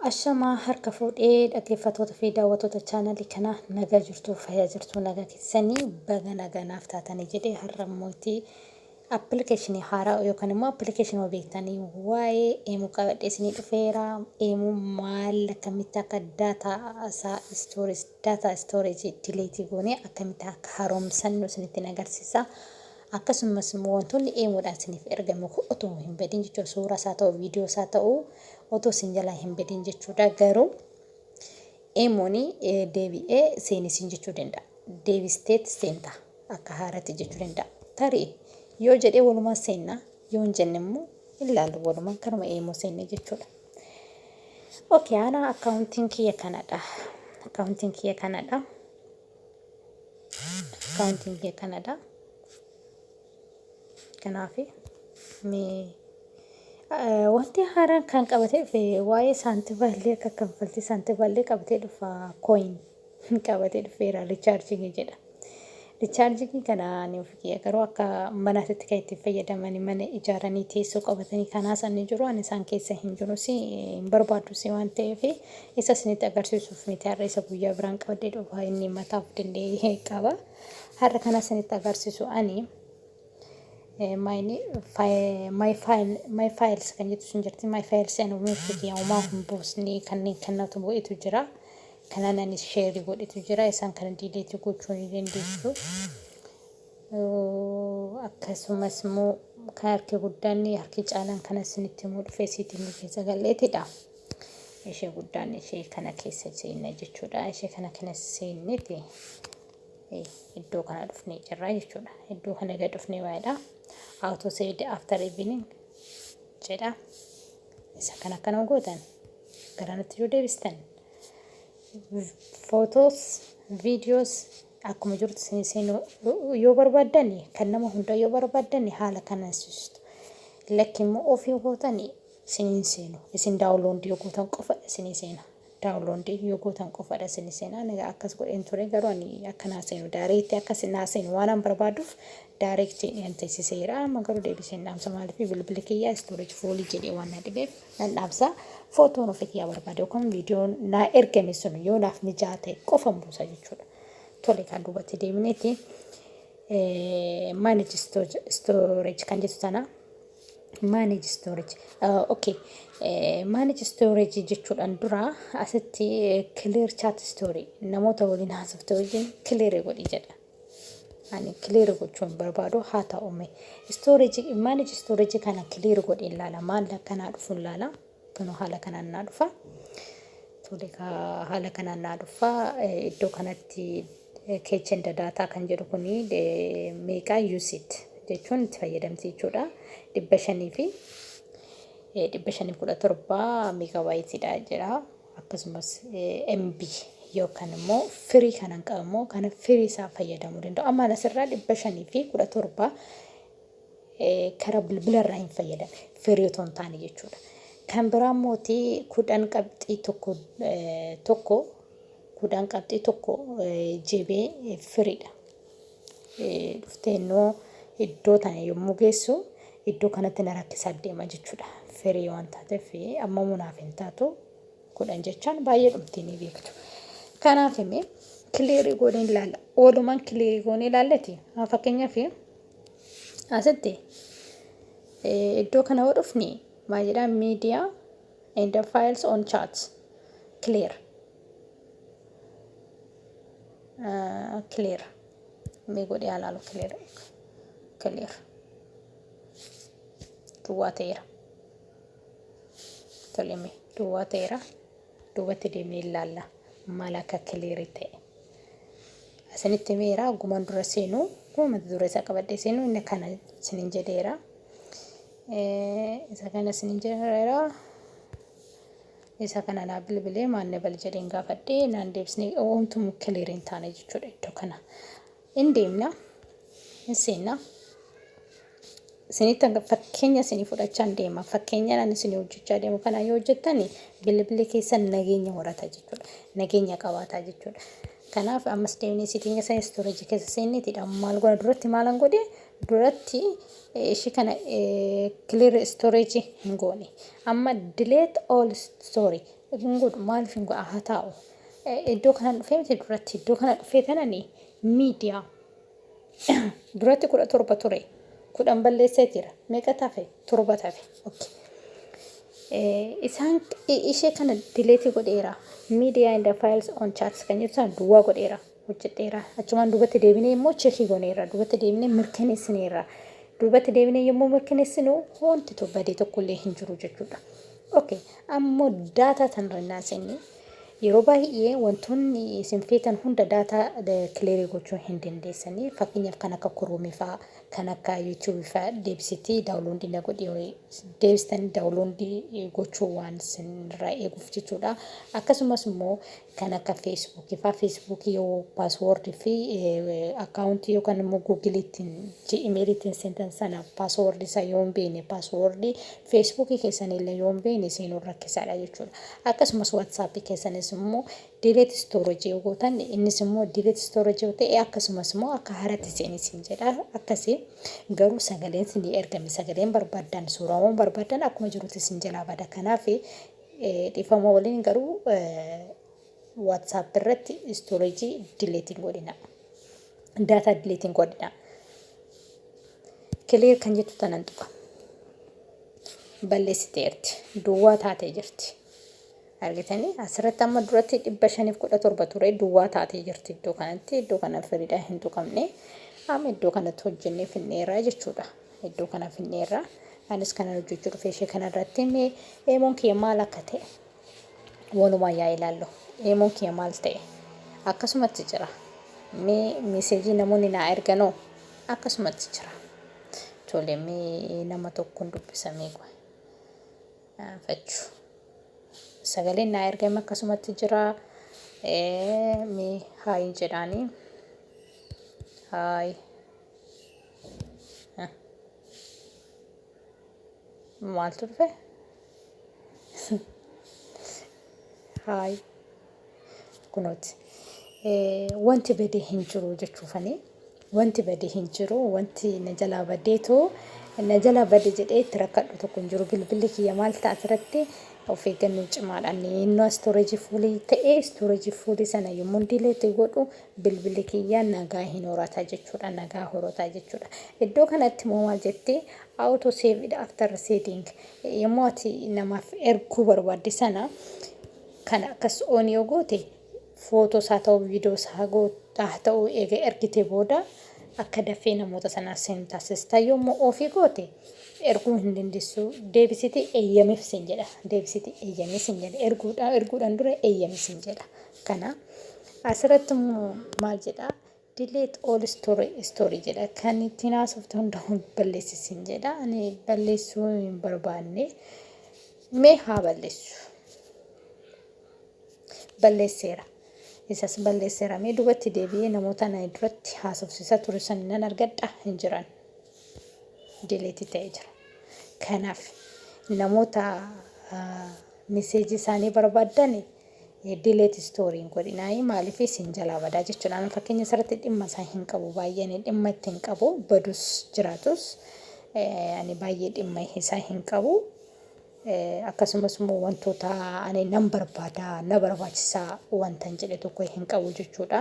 Ashamaa harka fuudhee dhaggeeffattoota fi daawwattoota chaanalii kanaa nagaa jirtuu fayyaa jirtuu nagaa keessanii baga nagaa naaf taatanii jedhee har'a immoo itti appilikeeshinii haaraa yookaan immoo appilikeeshinii beektanii waa'ee eemuu qabadhee isinii dhufeera eemuu maal akkamitti akka daataa isaa istoorees daataa istooreejii dileetii goonee akkamitti akka haaromsannu isinitti agarsiisa. Akkasummas immoo wantoonni eemoodhaan isiniif ergame kun otoo hin badin jechuudha. Suuraas haa ta'u, viidiyoos haa ta'u otoo isin jalaa hin badin jechuudha. Garuu eemoon deebi'ee seeni siin jechuu danda'a. Deebisteet seenta akka haarati jechuu danda'a. Tarii yoo jedhee walumaan seenna yoo hin jenne immoo ilaalu walumaan kanuma eemoo seenne jechuudha. Okay, ana akkaawuntiin kiyya kanadha. Akkaawuntiin kiyya kanadha. Akkaawuntiin kee kanadha. Kanaaf wanti haaraan kan qabatee dhufe waa'ee saantiballee akka kanfaltii saantiballee qabatee dhufa kooyin qabatee dhufeera richaarjingii jedha. Richaarjingii kana ani ofii kiyya garuu akka manaatitti kan ittiin fayyadamani mana ijaaranii teessoo qabatanii kanaa san ni jiru ani isaan keessa hin jiru si hin barbaadu si waan ta'eef Isa isinitti agarsiisuuf miti har'a isa guyyaa biraan qabadhee dhufa inni mataa of danda'e qaba. Har'a kana isinitti agarsiisu ani my files kan jettu sun jirti my files and website yaamaa hin buusne kanneen kannatu bu'etu jira. Kanaan anis sheerii godhetu jira isaan kana diileetii gochuu ni dandeessu. Akkasumas immoo kan harki guddaan harki caalaan kana isinitti himuu dhufee siitiin keessa galleetidha. ishee guddaan ishee kana keessa seenne jechuudha. Ishee kana kana seenneti iddoo kana dhufnee jirra jechuudha. Iddoo kana gad dhufnee waa'eedha. Auto saved after evening jedha. Isa kana akkana gootan garanatti yoo deebistan footoos viidiyoos akkuma jirtu isin seenuu yoo barbaaddan kan nama hundaa yoo barbaaddan haala kanaan sistu. Lakki immoo ofii gootanii isinii hin seenu isin daawunloondii yoo gootan qofa isinii seena daawunloondii yoo gootan qofadha isinii seena ani akkas godheen ture garuu ani akka naa seenu daareetti akka isin naa seenu waan an barbaaduuf daareetti nan teessiseera amma garuu deebiseen dhaamsa maaliif bilbili kiyyaa istoorij fuulii jedhee waan na dhibeef nan dhaamsa footoon ofii kiyyaa barbaade yookaan viidiyoon naa ergame sun yoo naaf mijaa ta'e qofan buusa jechuudha tole kan duubatti deemineeti manage storage kan jettu tana Manage storage. Uh, okay. Eh, manage storage jechuudhaan dura asitti eh, clear chat story namoota waliin haasofte wajjin clear godhi jedha. Ani clear gochuun barbaadu haa ta'ume. Storage, manage storage kana clear godhi ilaala. Maal akkanaa dhufu ilaala. Kunoo haala kanaan naa dhufa. Tole kaa haala kanaan naa dhufa. Eh, Iddoo kanatti eh, kitchen data kan jedhu kuni eh, meeqa usit jechuun itti fayyadamti jechuudha. Dhibba shanii fi eh, dhibba shanii fi kudha torba meegabaayitiidha jedha. Akkasumas eh, MB yookaan immoo firii kanan qabu immoo kana firii isaa fayyadamuu danda'u. Ammaan asirraa dhibba shanii fi kudha torba karaa bilbila irraa hin fayyadamne firii otoo hin taane jechuudha. Kan biraa immoo kudhan qabxii tokko tokko kudhan qabxii tokko jibee firiidha. Dhuftee immoo iddoo tana yommuu geessu iddoo kanatti na rakkisaa deema jechuudha. Firii waan taateef amma munaaf hin taatu kudhan jechaan baay'ee dhumtii ni beektu. Kanaaf immoo kiliirii goonee ilaalla. Oolumaan kiliirii goonee ilaallati fakkeenyaaf Asitti iddoo kana yoo dhufne maal jedha media and the files on chat clear clear mee godhee alaalu clear clear duwwaa ta'eera toleme duwwaa ta'eera. duubatti deemnee ilaalla maal akka kiliirii ta'e. Isinitti himeera gumaan dura seenu guma mata duree isaa qabadhee seenu inni kana isinin jedheera. Isa kana isinin jedheera. Isa kana naa bilbilee maanne bal jedheen gaafadhee naan deebisne oomtumu kiliirii hin taane jechuudha iddoo kana. In deemna, in seenna. Isinitti fakkeenya isinii fudhachaa in deema. Fakkeenyaan ani isinii hojjechaa deemu kana yoo hojjettan bilbilli keessan nageenya horata jechuudha. Nageenya qabaata jechuudha. Kanaaf ammas deemnee siitiinga sana istoorejii keessa seenneetidha. Maal goona duratti maalan godhe duratti ishii kana kiliir istoorejii hin goone. Amma dileet ool istoorii hin godhu maaliif hin godha haa taa'u iddoo kanan dhufee miti duratti iddoo kana dhufee tanani miidiyaa duratti kudha torba ture kudhan balleessee jira meeqa tafe torba tafe okay. isaan ishee kana dileetii godheera miidiyaa inda faayils on chaats kan jedhu sana duwwaa godheera hojjedheera. Achumaan duubatti deebinee immoo chekii goneerra. Duubatti deebinee mirkaneessineerra. Duubatti deebinee yommuu mirkaneessinu wanti to bade tokkollee hin jiru jechuudha. Okay, ammoo daataa tanarra innaa seenne yeroo baay'ee wantoonni isin feetan hunda daataa kileerii gochuu hin dandeessanii. Fakkeenyaaf kan akka kuruumii fa'aa, kan akka yuutuubii fa'aa deebisitii daawuloondii na godhi horii deebistanii daawuloondii gochuu waan isinirraa eeguuf jechuudha. Akkasumas immoo kan akka Facebook faa Facebook yoo password fi account yookaan immoo Google ittiin Gmail ittiin seentan sana password isaa yoo hin beekne password Facebook keessan illee yoo hin beekne seenuun rakkisaadha jechuudha. Akkasumas WhatsApp keessanis immoo delete storage yoo gootan innis immoo delete storage yoo ta'e akkasumas immoo akka haratti seeni siin jedha akkasii garuu sagaleen siin ergame sagaleen barbaadan suuraawwan barbaadan akkuma jirutti siin jalaa bada kanaaf Dhifama walin garuu WhatsApp irratti storage delete hin godhina. Data delete hin godhina. Clear kan jettu tanan tuqa. Balleessiteerti. Duwwaa taatee jirti. Argitanii asirratti amma duratti dhibba shaniif kudha torba ture duwwaa taatee jirti iddoo kanatti iddoo kana firiidhaan hin tuqamne amma iddoo kanatti hojjennee finneeraa jechuudha. Iddoo kana finneerra. Anis kanan hojjechuu dhufe ishee kanarratti mee eemoon kiyya maal akka ta'e walumaan yaa ilaallu. Eemoon kiyya maal ta'e? Akkasumatti jira. Mee miseejii namoonni naa erganoo akkasumatti jira. Tole mee nama tokkoon dubbisa mee qoy. Fachu. Sagaleen naa ergame akkasumatti jira. Mee haayin jedhaanii. Haayi. Maal turfe? Haay. Kunooti. Wanti badee hin jiru jechuufanii. Wanti badee hin jiru. Wanti na jalaa badeetu na jalaa bade jedhee itti rakkadhu tokko hin jiru. Bilbilli kiyya maal ta'a asirratti of eeggannoo cimaadhaan inni istoorejii fuulii ta'ee istoorejii fuulii sana yommuu diileetti godhu Bilbilli kiyya nagaa hin horata jechuudha, nagaa horota jechuudha. Iddoo kanatti immoo maal jetti? Auto saved after setting. Yommuu ati namaaf erguu barbaadde sana kana akkas on yoo goote footoos haa ta'u viidiyoos haa goo- haa ta'u eega ergite booda akka dafee namoota sanaaf sin taasista. Yommuu ofii goote erguu hin dandeessu. Deebisiti eeyyamiif sin jedha. Deebisiti eeyyamii sin jedha. Erguudha, erguudhaan dura eeyyamii sin jedha. kana. Asirratti immoo maal jedha? Delete all story story jedha. Kan ittiin haasofte hunda hun balleessi siin jedha. Ani balleessuu hin barbaanne. Mee haa balleessu. Balleesseera. Isas balleesseera. Mee dubatti deebi'ee namoota na duratti haasofsiisaa ture san nan argadha hin jiran. Delete ta'ee jira. Kanaaf namoota ah, miseejii isaanii barbaaddan Delete story hin godhinaayi maaliif isin jalaa badaa jechuudha. Ani fakkeenya isarratti dhimma isaa hin qabu baay'ee ani dhimma itti hin qabu badus jiraatus eh, ani baay'ee dhimma isaa hin qabu. Eh, Akkasumas immoo wantoota ani nan barbaada na barbaachisa wantan jedhe tokko hin qabu jechuudha.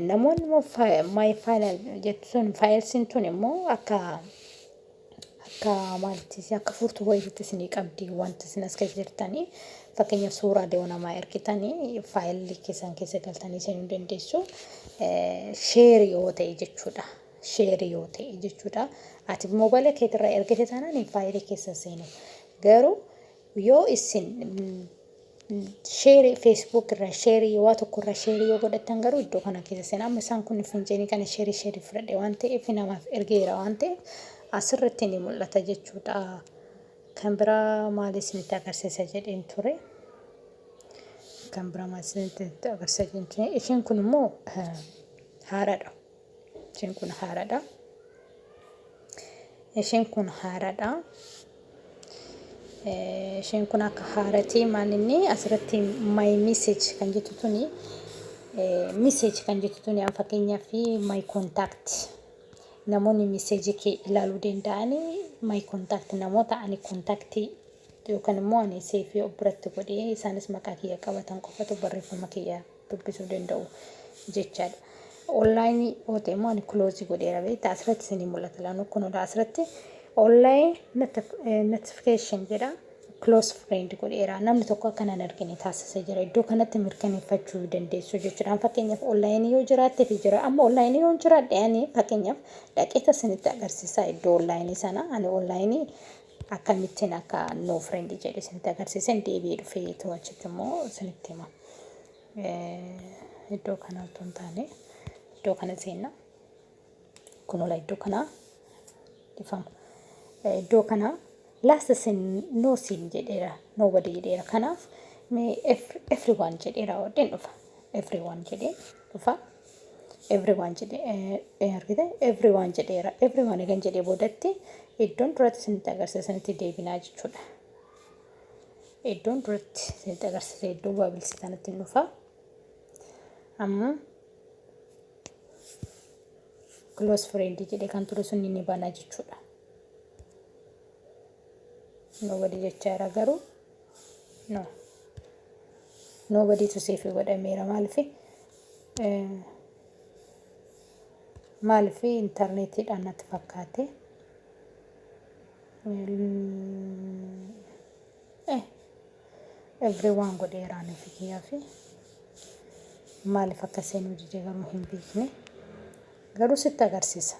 Namoonni immoo fi- my final jettu sun faayilsiin tun immoo akka akka maalitti akka furtuu wayiitti isinii qabdi wanti isin as keessa jirtanii fakkeenyaaf suuraalee namaa ergitanii faayilii keessan keessa galtanii seenuu dandeessu sheer yoo ta'e jechuudha. Sheer yoo ta'e jechuudha. Ati moobaayila keetirraa ergite taanaan faayilii keessa seenu garuu Yoo isin share facebook irra share waa tokko irra share yoo godhattan garuu iddoo kana keessa seenaa amma isaan kun finjeenii kana share share fudhadhe waan ta'eef namaaf ergeera waan ta'eef asirratti ni mul'ata jechuudha kan biraa maal isinitti agarsiisa jedheen ture kan biraa maal isinitti agarsiisa jedheen ture isheen kun immoo haaraadha Ishiin kun haaradha. Ishiin kun haaradha. Ishiin kun akka haaratii maal inni asirratti my message kan jettu tuni message kan jettu tuni an fakkeenyaaf my contact namoonni message kee ilaaluu danda'anii my contact namoota ani contact yookaan immoo ani seefii of biratti godhee isaanis maqaa kiyya qabatan qofatu barreeffama kiyya dubbisuu danda'u jechaadha. Online yoo ta'e immoo ani close godheera beekta asirratti isinii mul'ata laanoo kunudha asirratti online notification jedha close friend godheera namni tokko akka nan argine taasisa jira iddoo kanatti mirkaneeffachuu dandeessu jechuudhaan fakkeenyaaf online yoo jiraatte fi jira amma online yoo jiraadhe ani fakkeenyaaf dhaqeeta isinitti agarsiisaa iddoo online sana ani online akkamittin akka no friend jedhe isinitti agarsiisen deebi'ee dhufeetu achitti immoo isinitti hima. Iddoo kana otoo hin taane iddoo kana seenna. Kunola iddoo kana dhifama. Iddoo kana last sin no sin jedheera nobody jedheera kanaaf mee everyone jedheera odheen dhufa. Everyone jedhee dhufa. everyone jedhee argite everyone jedheera everyone egan jedhee boodatti iddoon duratti isinitti agarsiisa isinitti deebinaa jechuudha iddoon duratti isinitti agarsiisa iddoo bu'aa bilisiisaa natti hin dhufa amma close friend jedhee kan ture sun ni bana jechuudha nobody jechaa jira garuu no nobody tu seefi godhameera maalifi Maaliif intarneetiidhaan natti fakkaate. Every waan godheeraa nuti kiyyaa fi maaliif akka seenuu dide garuu hin beekne. Garuu sitti agarsiisa.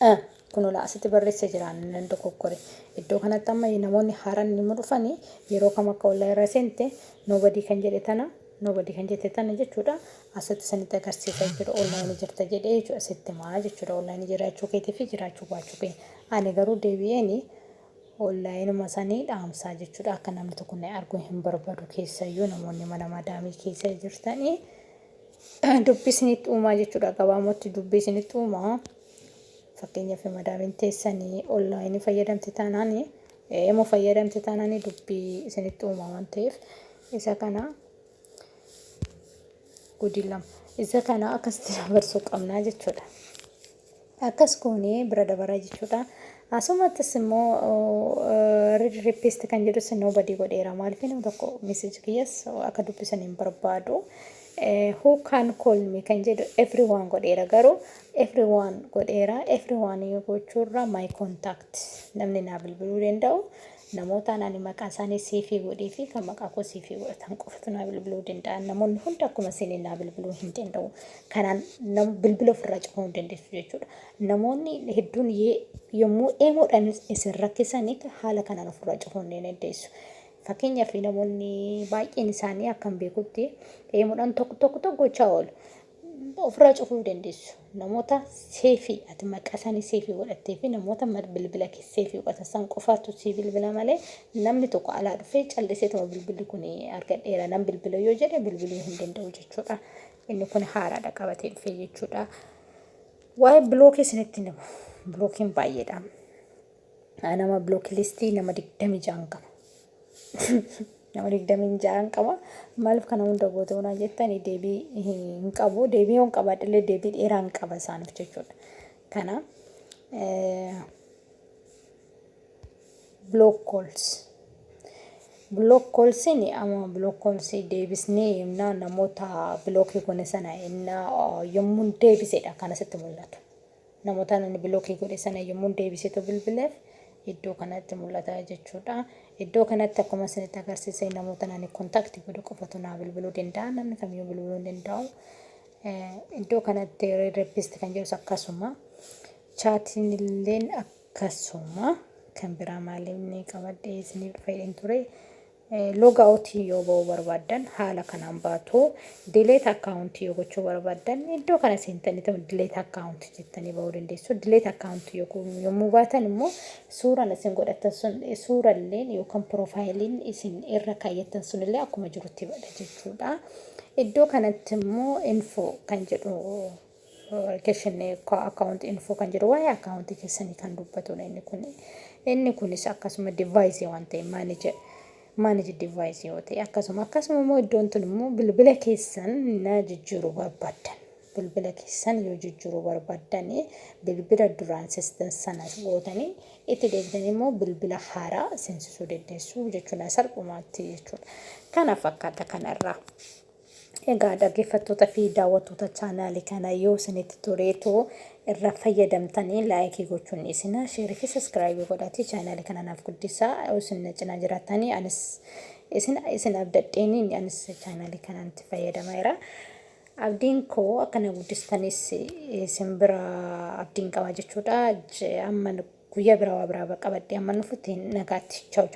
a Kunoo laa asitti barreesse jira ani nan dogoggore. Iddoo kanatti amma namoonni haaraan yommuu dhufan yeroo kam akka ollaa irra seente nobody kan jedhe tana nobody kan jette tana jechuudha asitti isinitti agarsiisa jechuudha ollaa ni jirta jedhee jechuudha sitti himaa jechuudha ollaa ni jiraachuu keetii fi jiraachuu baachuu kee ani garuu deebi'een ollaayinuma sanii dhaamsaa jechuudha akka namni tokko na arguu hin barbadu keessayyuu namoonni mana madaamii keessa jirtanii Dubbi isinitti uumaa jechuudha. Gabaamatti dubbi isinitti uumaa. Fakkeenyaaf madaamiin teessanii onlaayinii fayyadamte taanaan emo fayyadamte taanaan dubbii isinitti uumaa waan ta'eef isa kana gudii lama isa kana akkasitti dabarsuu qabnaa jechuudha. Akkas goonee bira dabara jechuudha. Asumattis immoo read request kan jedhus nobody godheera maaliif nama tokko message kiyyas akka dubbisan hin barbaadu. Who can call me kan jedhu everyone godheera garuu everyone godheera everyone yoo gochuurra my contact namni naa bilbiluu danda'u Namootaan ani maqaa isaanii siifii godhee fi kan maqaa koo siifii godhatan qofatu naa bilbiluu danda'an. Namoonni hundi akkuma isinii naa bilbiluu hin danda'u. Kanaan nam- bilbila ofirraa cufuu hin dandeessu jechuudha. Namoonni hedduun ye- yommuu eemoodhaan is- isin rakkisanii haala kanaan ofirraa cufuu ni dandeessu. Fakkeenyaaf namoonni baay'een isaanii akkan beekutti eemoodhaan tokko tokko tokko gochaa oolu. ofirraa cufuu hin dandeessu. Namoota seefi ati maqaa isaanii seefi godhattee fi namoota bilbila kee seefi godhatan san qofaatu sii bilbila malee namni tokko alaa dhufee calliseetuma bilbilli kun argadheera nan bilbila yoo jedhe bilbiluu hin danda'u jechuudha. Inni kun haaraadha qabatee dhufee jechuudha. Waa'ee bilookii isinitti himu. Bilookiin baay'eedha. Nama bloklistii nama digdamii ja'an qaba. Nama digdamii ja'an qaba. Maaliif kana hunda goote hunaa jettan deebii hin qabu. Deebii yoon qabaadhillee deebii dheeraa hin qaba isaaniif jechuudha. Kana block calls. Block callsiin amma block callsii deebisnee yennaa namoota blockii gone sana yennaa yommuun deebisedha kan asitti mul'atu. Namotaan ani bilookii godhe sana yommuun deebiseetu bilbileef iddoo kanatti mul'ata jechuudha. Iddoo kanatti akkuma isinitti agarsiise namootan ani kontakti godhe qofatu naa bilbiluu danda'a. Namni kamiyyuu bilbiluu hin danda'u. Iddoo kanatti reedreppist kan jedhus akkasuma. Chaatiin illeen akkasuma. Kan biraa maaliin qabadhee isiniif fayyadeen ture. Logout yoo ba'uu barbaaddan haala kanaan baatu. Delete account yoo gochuu barbaaddan iddoo kana seentaniituma delete account jettanii ba'uu dandeessu. Delete account yommuu baatan immoo suuraan isin godhattan sun suuralleen yookaan piroofaayiliin isin irra kaayyattan sunillee akkuma jirutti bada jechuudha. Iddoo kanatti immoo info kan jedhu Keshinni account info kan jedhu waa'ee account keessanii kan dubbatudha inni kun. Inni kunis akkasuma device waan ta'e manage manage device yoo ta'e akkasuma akkasuma immoo iddoon tun immoo bilbila keessan na jijjiiruu barbaddan. Bilbila keessan yoo jijjiiruu barbaddanii bilbila duraan sistan sana gootanii itti deebitanii immoo bilbila haaraa seensisuu dandeessu jechuudha salphumaatti jechuudha. Kana fakkaata kanarraa. Egaa dhaggeeffattoota fi daawwattoota chaanaali kana yoo isinitti toleetu irra fayyadamtanii laayikii gochuun dhiisinaa sheerii fi saskiraayibii godhaatii chaanaali kana naaf guddisaa isin na cinaa jiraatanii anis isin isin abdadheeni anis chaanaali kanatti fayyadamaa jira. Abdiin koo akka na guddistanis isin bira abdiin qabaa jechuudha. Amma guyyaa biraa waa biraa qabadhee amma nufutti nagaatti. Chao chao.